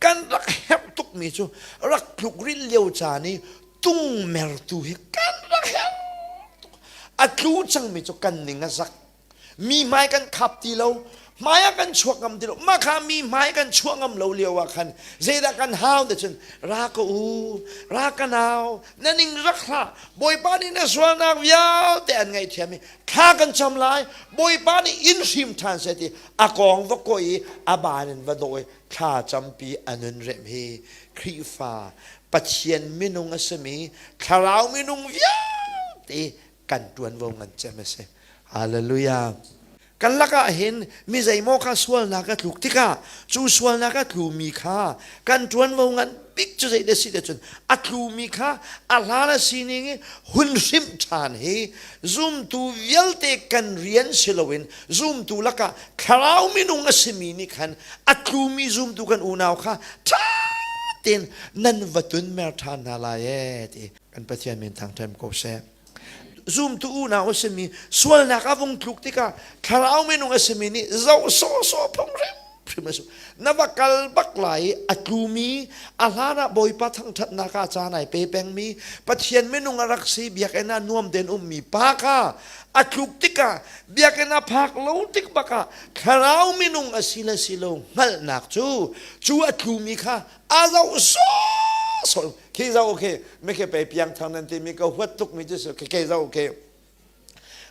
kan rak herh tukmi cu rak tluk rinh lio caan i tung mertu hi kan rak herh tuk a tlu cangmi cu kan ning a zak mi hmai kan khap ti lo hmai ah kan chuak ngam ti lo mah kha mi hmai kan chuah ngam lo lio ah khan zeidah kan hau te cun ra ka u ra ka nau na ning rak hla bawipa nih na sualnak vialte an ngaihthiam i thla kan cam lai bawipa nih in hrim ṭhan se ti a kong va koih i a ban in va dawi thla campi a nun rem hi Khrihfa Pathian minung a simi thlarau minung vialte kan ṭuanvo ngan cem a si. Hallelujah. Kan lakah hin mi zeimaw kha sualnak a tluk tikah cu sualnak a tlumi kha kan ṭuanvo ngan bik cu zei na si cun a tlumi kha a hlan a sining i hun hrimh ṭhan hi zumtu vialte kan rian si loin zumtu lakah thlarau minung a simi nih khan a tlumi zumtu kan unau kha ṭha tein nan va tun mer ṭhan hna lai ee ti kan Pathian min thangṭhem ko seh Zum tu unau a simi sualnak a vung tluk tikah thlarau minung a simi nih zoh sawhsawh phung hrimhrim a si. Na va kal bak lai i a tlumi a hlan ah Bawipa thangṭhatnak ah caan ai pe pengmi Pathian minung a rak si biakinn ah nuam tein ummi pa kha a tluk tikah biakinn ah phak lo tik bak ah thlarau minung a si le si lo hngalhnak cu cu a tlumi kha a zoh sawsawh khi zoh okay me ke pe piang thang nan ti mi ka huat tuk mi cu khi ke zoh okay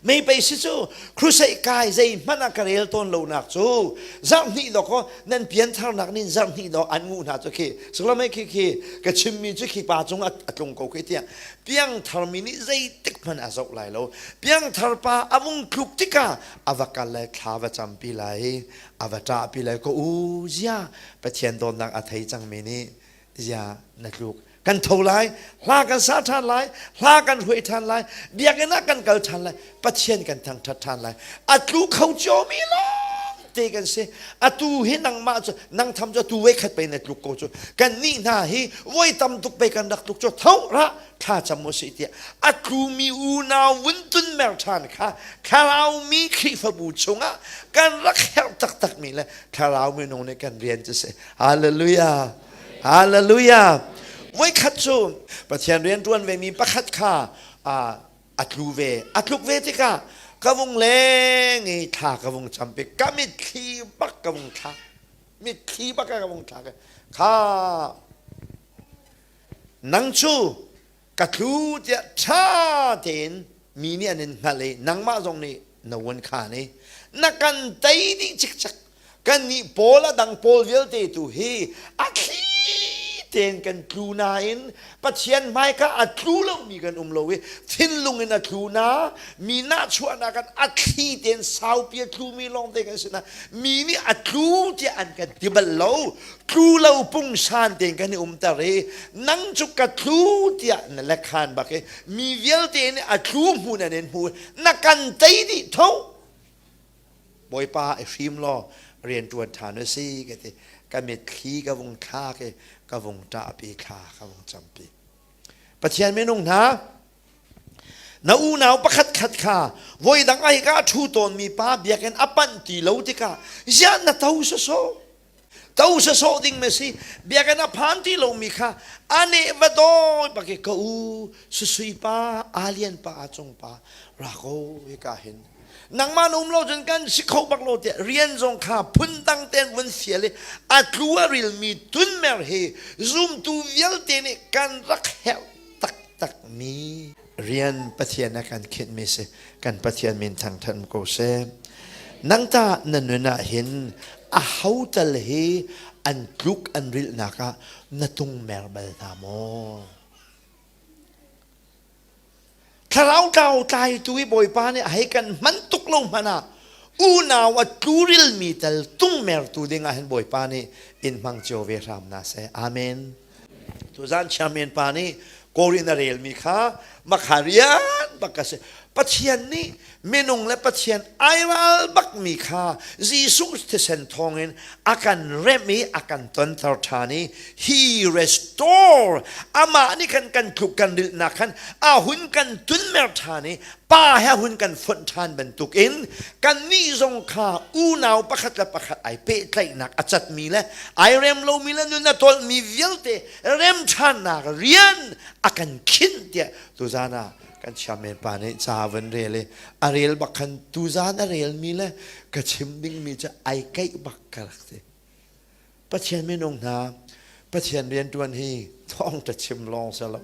mei pei si cu crusade kai zei hmanh a ka rel tawn lo nak cu zarh hnih do ko nan pian thar nak nin zarh hnih do an ngu hna cu khi sukla mei khi khi ka chim mi cu khi pa cung a tlung ko khi tiang piang thar mi nih zei tik hmanh a zoh lai lo piang thar pa a vung tluk tika a va kal le thla va cam pi lai a va ṭahpi lai ko u ziah Pathian dawtnak a thei cangmi nih ziah na tluk kan tho lai hla kan sa ṭhan lai hla kan hruai ṭhan lai biakinn ah kan kal ṭhan lai Pathian kan thangṭhat ṭhan lai a tlu kho ciomi lawng te kan si a tu hi nangmah cu nang tham cu tu voi khat pei na tluk ko cu kan nih hna hi voi tam tuk pei kan rak tluk cu tho ra thlacam u sih tiah a tlumi unau vun tun mer ṭhan kha thlaraumi Khrihfabu chungah kan rak herh taktakmi le thlaraumi nung nih kan rian cu si hallelujah hallelujah voikhat cu Pathian rian ṭuan vemi pakhat kha a tlu ve a tluk ve tikah ka vung leng i thla ka vung campi ka mitthli bak ka vung thlak mitthli bak ka vung thlak kha nang cu ka tlu tiah ṭha tein mi nih an in hngalh i nangmah zong nih na uan khan i na kan tei dih cikcek kannih pawl a dang pawl vialte tu hi a thli tein kan tlu nain Pathian hmaika a tlu lomi kan um lo i thinlung in a tlu na mi nahchuahnak kan a thli tein saupi a tlumi lawngte kan si na mi nih a tlu tiah an kan ti bal lo tlu lo pungsan tein kan i umter i nang cu ka tlu tiah na lekhan bak i mi vialte nih a tlu hmu nan in hmu na kan tei dih tho bawipa i hrim law rianṭuan ṭhan u si ka ti ka mitthli ka vung thlak i ka vung ṭahpi thla ka vung campi pathian minung hna na unau pakhat khat kha voi dang ai ka ṭhu tawnmi pa biakinn a panh ti lo tikah ziah na to sawsawh to sa sawh ding me si biakinn a phan ti lomi kha ane va dawi bake ka u susui pa alian pa a cung pa ra ko e ka hin nangman um lo cun kan si kho bak lo te rian zong kha phun dang ten vun sial i a tlu a ril mi tun mer he zumtu vialte nih kan rak herh tak tak mi rian pathian a kan khinhmi si kan pathian min thangthan ko seh nang ta na nun ah hin a hotal hi an tluk an rilhnak ah na tung mer bal hna maw thlarau tlau tlaitu i bawipa nih hei kan man tuk lo hmanh ah unau a tluril mi tal tung mertu ding ah hin bawipa nih in hmang cio ve hram na se amen tuzan chairman pa nih Korea na relmi kha makha rian bak ka si Pathian nih minung le Pathian airal bakmi kha Jesuh thisen thawngin a kan remh i a kan tonter ṭhan i he restore amah nih khan kan tluk kan rilhnak khan a hun kan tunmer ṭhan i pa he hun kan fonh ṭhan bantukin kannih zong kha unau pakhat le pakhat ai pehtlaihnak a catmi le ai rem lomi le nun a tolmi vialte rem ṭhannak rian a kan khinh tiah tuzan ah kan chiamen pa nih ca van rel i a rel bak khan tuzan a relmi le ka chim dingmi cu ai kaih bak ka rak si Pathian minung hna Pathian riantuan hi thawngtha chim lawng si lo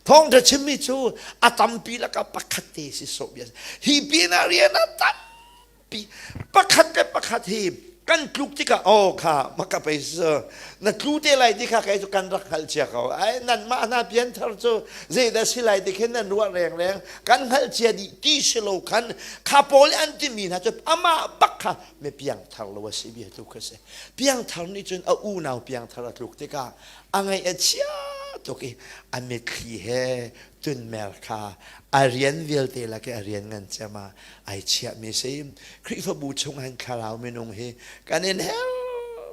thawngtha chimmi cu a tampi lakah pakhat te si so bia hi pinah rian a tampi pakhat le pakhat hi kan tluk tikah o kha maka pei su na tlu te lai ti kha kai cu kan rak hngal chia ko ai nan mah hna pian thar cu zeidah si lai ti khin nan ruah reng reng kan hngal chia dih ti si lo khan kha pawl an timi hna cu amah bak kha me piang thar lo a si bia tluk kha si Piangthar nih cun a unau piangthar a tluk tikah a ngaih a chia tuk i a mitthli he tunmer kha a rian vialte lak i a rian ngan ciam ah ai chiahmi si. Khrihfabu chungah hin thlarau minung hi kan in help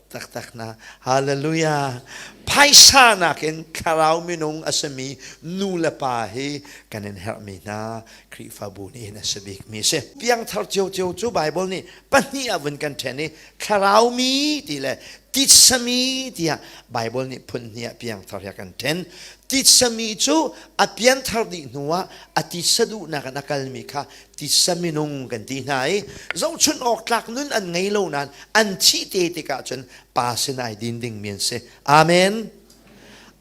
taktak hna. Hallelujah. Phaisa nakin thlarau minung a sami nu le pa hi kan in herhmi hna Khrihfabu nih hin a si bikmi si. Piangthar cio cio cu Bible nih pahnih ah vun kan ṭhen i thlarau mi ti le titsami tiah Bible nih phun hnih ah piangthar hi a kan ṭhen. Titsami cu a pianthar dih hnu ah a titsa duhnak in a kalmi kha titsa minung kan ti hna i zohchunh awk tlak nun an ngei lo nain an thih te tikah cun pa sin ai din dingmi an si. Amen.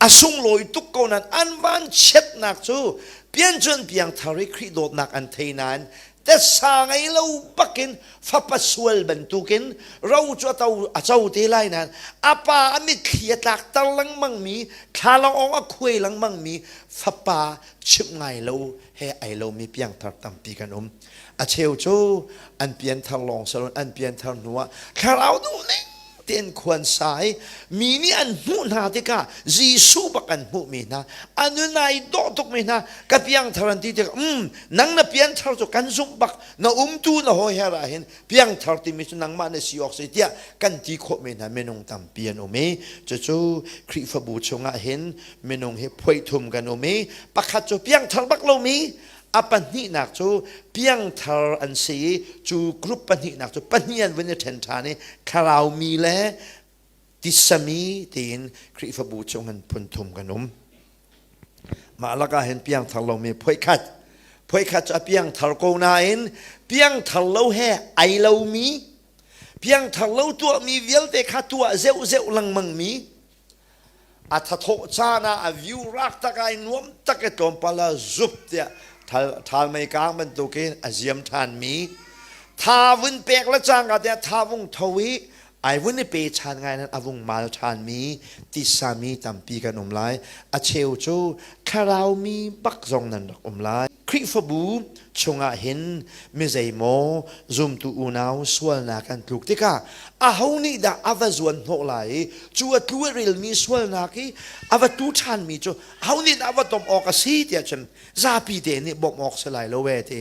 A sunglawi tuk ko nain an vanchiatnak cu pian cun piangthar i Khrih dawtnak an thei nain tesa ngei lo bakin fapa sual bantukin ro cu ato a co te lai nan a pa a mitthli a tlak tar lengmang mi thlalangawng a khuai lengmang mi fapa chim ngai lo he ai lo mi piangthar tampi kan um a cheu cu an pianthar lawng salon an pianthar hnuah thlarau dum ning tein khuan sai mi nih an hmuh hna tikah Jesuh bak an hmuhmi hna an nun ai dawh tukmi hna ka piangthar an ti tikah um nang na pianthar cu kan zumh bak na umtu na hawi her ah hin piangthar timi cu nangmah na si awk sai tiah kan ti khawhmi hna minung tampi an um i cucu Khrihfabu chungah hin minung hi phoithum kan um i pakhat cu piangthar bak lomi a pahnihnak cu piangthar an si i cu group pahnihnak cu pahnih an vun i ṭhen ṭhan i thlarau le tisami tiin Khrihfabu chung in phunthum kan um. Mah lakah hin piangthar lomi phoikhat phoikhat cu a piangthar ko nain piangthar lo he ai lomi piangthar lo tuahmi vialte kha tuah zeuh zeuh lengmang mi a thathawh caan ah a view raak tak ai nuam tak i tlawmpal ah zup tiah thal mei kaang bantukin a ziam ṭhanmi tha vun pek le cangka tiah tha vung tho i ai vun i pe ṭhan ngai nan a vung mal ṭhanmi tisami tampi kan um lai a cheu cu thlarau mi bak zong nan rak um lai Khrihfabu chungah hin mizeimaw zumtu unau sualnak an tluk tikah aho nih dah a va zuan hnawh lai i cu a tlu a rilmi sualnak i a va tu ṭhanmi cu aho nih dah a va tom awk a si tiah cun zapi te nih bawmh awk si lai lo e ti